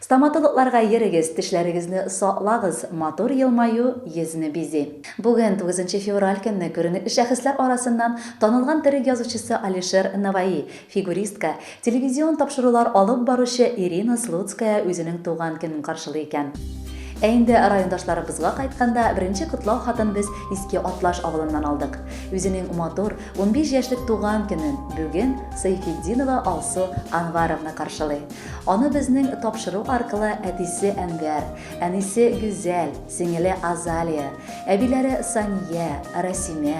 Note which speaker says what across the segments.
Speaker 1: Стоматологларга йөрегез, тешләрегезне саклагыз, матур елмаю йөзне бизи. Бүген, тугызынчы февраль көнне, күренекле шәхесләр арасыннан танылган төрек язучысы Алишер Наваи, фигуристка, телевизион тапшырулар алып баручы Ирина Слуцкая үзенең туган көнен каршылый икән. Ә инде райондашларыбызга кайтканда, беренче котлау хатын без Иске Атлаш авылыннан алдык. Үзенең матур, унбиш яшьлек туган көнен бүген Сайфетдинова Алсу Анваровна каршылый. Аны безнең тапшыру аркылы әтисе Әнвәр, әнисе Гүзәл, сеңеле Азалия, әбиләре Сания, Рәсимә,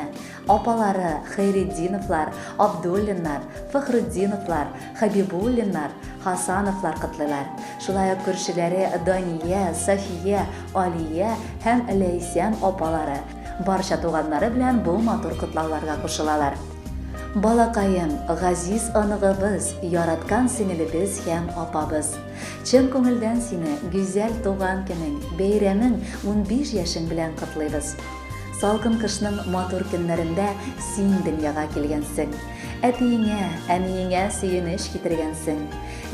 Speaker 1: апалары Хәйретдиновлар, Абдуллиннар, Фәхретдиновлар, Хәбибуллиннар, Хасановлар котлыйлар. Шулай ук күршеләре Дания, Сафия, Алия һәм Ләйсән апалары, барча туганнары белән бу матур котлауларга кушылалар. Балакаем, газиз оныгыбыз, яраткан сеңелебез һәм апабыз! Чын күңелдән сине гүзәл туган көнең, бәйрәмең, унбиш яшең белән котлыйбыз! Салкын кышның матур көннәрендә син дөньяга килгәнсең. Әтиеңә, әниеңә сөенеч китергәнсең.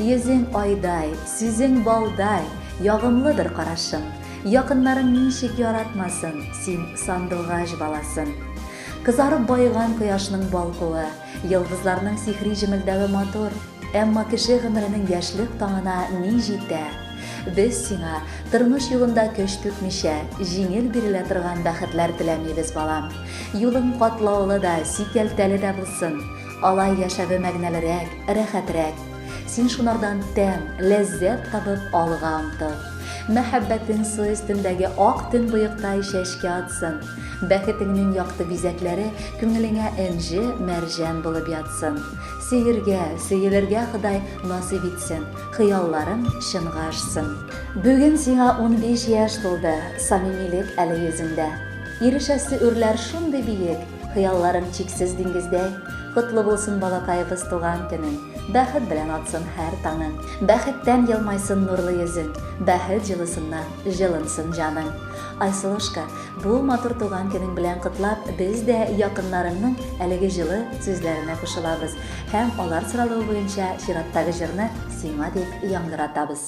Speaker 1: Йөзең айдай, сүзең балдай, ягымлыдыр карашың. Якыннарың ничек яратмасын, син сандугач баласын! Кызарып баеган кояшның балкуы, йолдызларның сихри җемелдәве матур, әмма кеше гомеренең яшьлек таңына ни җитә? Без сиңа, тормыш юлында көч түкмичә, җиңел бирелә торган бәхетләр теләмибез, балам. Юлың катлаулы да, сикәлтәле дә булсын. Алай яшәве мәгънәлерәк, рәхәтрәк. Син шунардан тәм, ләззәт табып, алга омтыл. Мәхәббәтең су өстендәге ак төнбоектай чәчкә атсын. Бәхетеңнең якты бизәкләре күңелеңә энҗе, мәрҗән булып ятсын. Сөергә, сөелергә Ходай насыйп итсен, хыялларың чынга ашсын. Бүген сиңа унбиш яшь тулды, самимилек әле йөзеңдә. Ирешәсе үрләр шундый биек, хыялларың чиксез диңгездәй. Котлы булсын балакаебыз туган көнең, бәхет белән атсын һәр таңың. Бәхеттән елмайсын нурлы йөзең, бәхет җылысыннан җылынсын җаның. Айсылушка, Бу матур туган көнең белән котлап, без дә якыннарыңның әлеге җылы сүзләренә кушылабыз һәм алар соралуы буенча чираттагы җырны сиңа дип яңгыратабыз.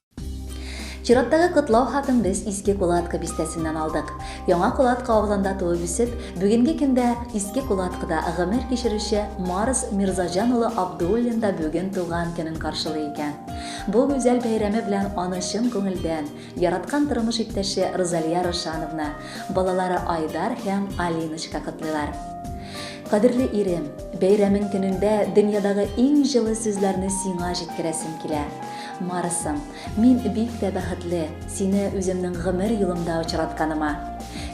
Speaker 1: Чираттагы котлау хатын без Иске Кулатка бистәсеннән алдык. Яңа Кулатка авылында туып үсеп, бүгенге көндә Иске Кулаткада гомер кичерүче Марс Мирзаҗан улы Абдуллин да бүген туган көнен каршылый икән. Бу гүзәл бәйрәме белән аны чын күңелдән яраткан тормыш иптәше Розалия Рушановна, балалары Айдар һәм Алиночка котлыйлар. Кадерле ирем, бәйрәмең көнендә дөньядагы иң җылы сүзләрне сиңа җиткерәсем килә. Марсым, мин бик тә бәхетле, сине үземнең гомер юлымда очратканыма.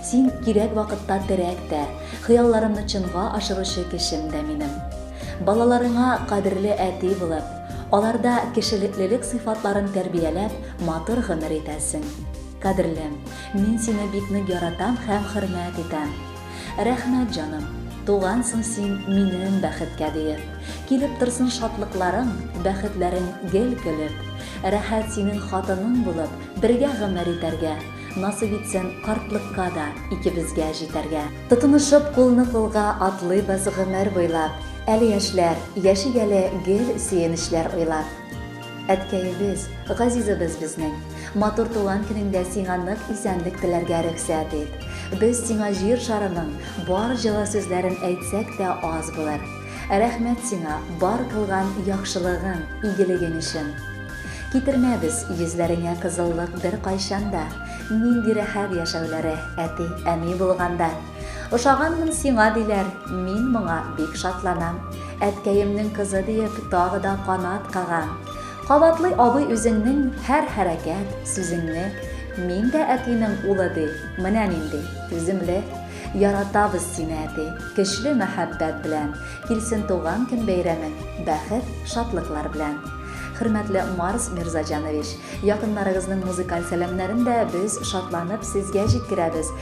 Speaker 1: Син кирәк вакытта терәк тә, хыялларымны чынга ашыручы кешем дә минем. Балаларыңа кадерле әти булып, аларда кешелеклелек сыйфатларын тәрбияләп, матур гомер итәсең. Кадерлем, мин сине бик нык яратам һәм хөрмәт итәм. Рәхмәт, җаным, тугансың син минем бәхеткә диеп. Килеп торсын шатлыкларың, бәхетләрең гел көлеп. Рәхәт синең хатының булып, бергә гомер итәргә. Насыйп итсен картлыкка да икебезгә җитәргә. Тотынышып кулны-кулга атлыйбыз гомер буйлап. Әле яшьләр, яшик әле гел сөенечләр уйлап. Әткәебез, газизыбыз безнең, матур туган көнеңдә сиңа нык исәнлек теләргә рөхсәт ит. Без сиңа җир шарының бар җылы сүзләрен әйтсәк тә аз булыр. Рәхмәт сиңа бар кылган яхшылыгың, игелегең өчен. Китермәбез йөзләреңә кызыллык беркайчан да. Нинди рәхәт яшәүләре, әти, әни булганда! Ошаганмын сиңа, диләр, мин моңа бик шатланам. Әткәемнең кызы диеп, тагы да канат кагам. Кабатлый абый үзеңнең һәр хәрәкәт, сүзеңне. Мин дә әтинең улы ди, менә нинди, түземле. Яратабыз сине, әти, көчле мәхәббәт белән. Килсен туган көн бәйрәмең, бәхет, шатлыклар белән. Хөрмәтле Марс Мирзаҗанович, якыннарыгызның музыкаль сәламнәрен дә без шатланып сезгә җиткерәбез.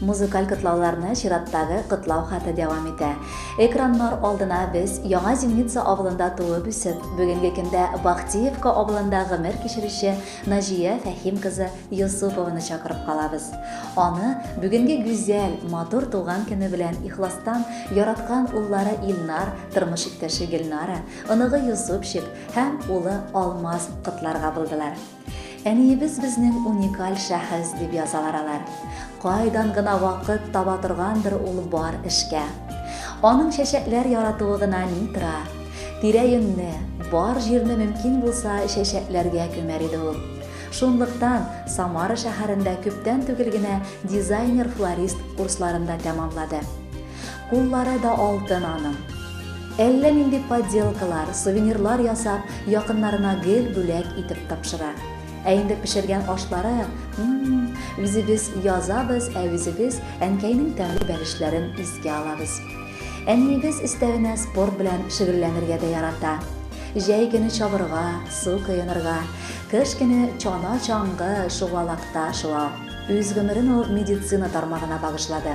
Speaker 1: Музыкаль котлауларны чираттагы котлау хаты дәвам итә. Экраннар алдына без Яңа Земница авылында туып үсеп, бүгенге көндә Бахтиевка авылында гомер кичерүче Наҗия Фәһим кызы Йосыпованы чакырып калабыз. Аны бүгенге гүзәл, матур туган көне белән ихластан яраткан уллары Илнар, тормыш иптәше Гөлнара, оныгы Йосыпчик һәм улы Алмаз котларга булдылар. Әниебез безнең уникаль шәхес, дип язалар алар. Кайдан гына вакыт таба торгандыр ул бар эшкә. Аның чәчәкләр яратуы гына ни тора. Тирә-юньне, бар җирне мөмкин булса чәчәкләргә күмәр иде ул. Шунлыктан Самара шәһәрендә күптән түгел генә дизайнер-флорист курсларын да тәмамлады. Куллары да алтын аның. Әллә нинди подделкалар, сувенирлар ясап, якыннарына гел бүләк итеп тапшыра. Ә инде пешергән ашлары, м-м, үзебез язабыз, ә үзебез әнкәйнең тәмле бәлешләрен искә алабыз. Әниебез өстәвенә спорт белән шөгыльләнергә дә ярата. Җәй көне чабырга, су коенырга, кыш көне чана-чаңгы, шугалакта шуа. Үз гомерен ул медицина тармагына багышлады.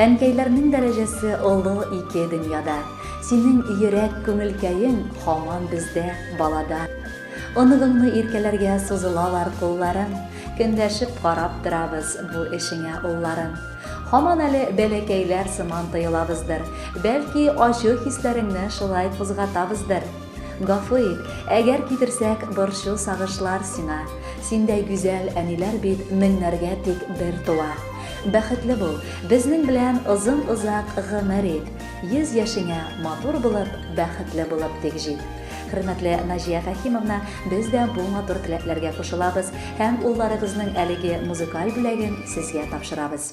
Speaker 1: Әнкәйләрнең дәрәҗәсе олы ике дөньяда, Синең йөрәк күңелкәең һаман бездә, балада. Оныгыңны иркәләргә сузылалар кулларың, Көнләшеп карап торабыз бу эшеңә улларың. Һаман әле бәләкәйләр сыман тоелабыздыр, Бәлки, ачу хисләреңне шулай кузгатабыздыр. Гафу ит, әгәр китерсәк борчу-сагышлар сиңа, Синдәй гүзәл әниләр бит меңнәргә тик бер туа. Бәхетле бул, безнең белән озын-озак гомер ит, йөз яшеңә матур булып, бәхетле булып тик җит. Хөрмәтле Наҗия Фәһимовна, без дә бу матур теләкләргә кушылабыз һәм улларыгызның әлеге музыкаль бүләген сезгә тапшырабыз.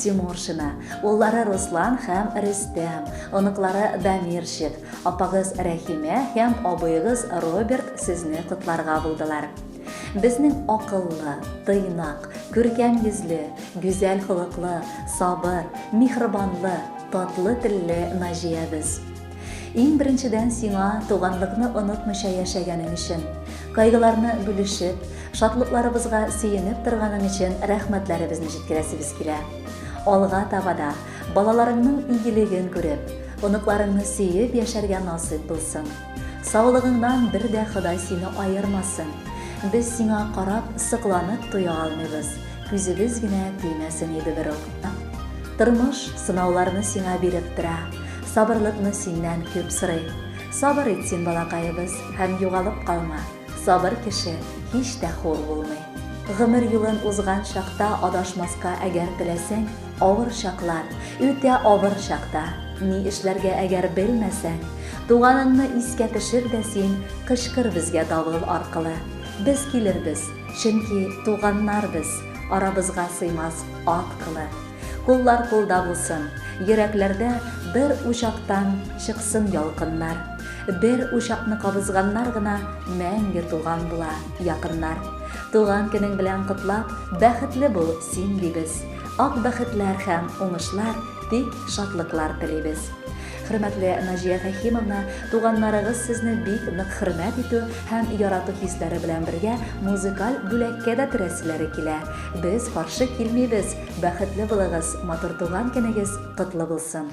Speaker 1: Тимуршина, уллары Руслан һәм Рөстәм, оныклары Дамирчик, апагыз Рәхимә һәм абыегыз Роберт сезне котларга булдылар. Безнең акыллы, тыйнак, күркәм йөзле, гүзәл холыклы, сабыр, миһрбанлы, татлы телле Наҗиябез! Иң беренчедән сиңа туганлыкны онытмыйча яшәгәнең өчен, кайгыларны бүлешеп, шатлыкларыбызга сөенеп торганың өчен рәхмәтләребезне җиткерәсебез килә. Алга таба да балаларыңның игелеген күреп, оныкларыңны сөеп яшәргә насыйп булсын. Саулыгыңнан бер дә Ходай сине аермасын. Без сиңа карап, сокланып туя алмыйбыз, күзебез генә тимәсен иде берүк. Тормыш сынауларны сиңа биреп тора. Сабырлыкны синнән күп сорыйм. Сабыр ит син, балакаебыз, һәм югалып калма. Сабыр кеше һич тә хур булмый. Гомер юлын узган чакта адашмаска әгәр теләсәң, авыр чаклар, үтә авыр чакта, ни эшләргә әгәр белмәсәң, туганыңны искә төшер дә син кычкыр безгә давыл аркылы. Без килербез, чөнки туганнар без, арабызга сыймас ат кылы. Куллар кулда булсын, йөрәкләрдә бер учактан чыксын ялкыннар. Бер учакны кабызганнар гына мәңге туган була, якыннар. Туган көнең белән котлап, бәхетле бул син дибез. Ак бәхетләр һәм уңышлар, тик шатлыклар телибез. Хөрмәтле Наҗия Фәһимовна, туганнарыгыз сезне бик нык хөрмәт итү һәм ярату хисләре белән бергә музыкаль бүләккә дә терәселәре килә. Без каршы килмибез, бәхетле булыгыз, матур туган көнегез котлы булсын!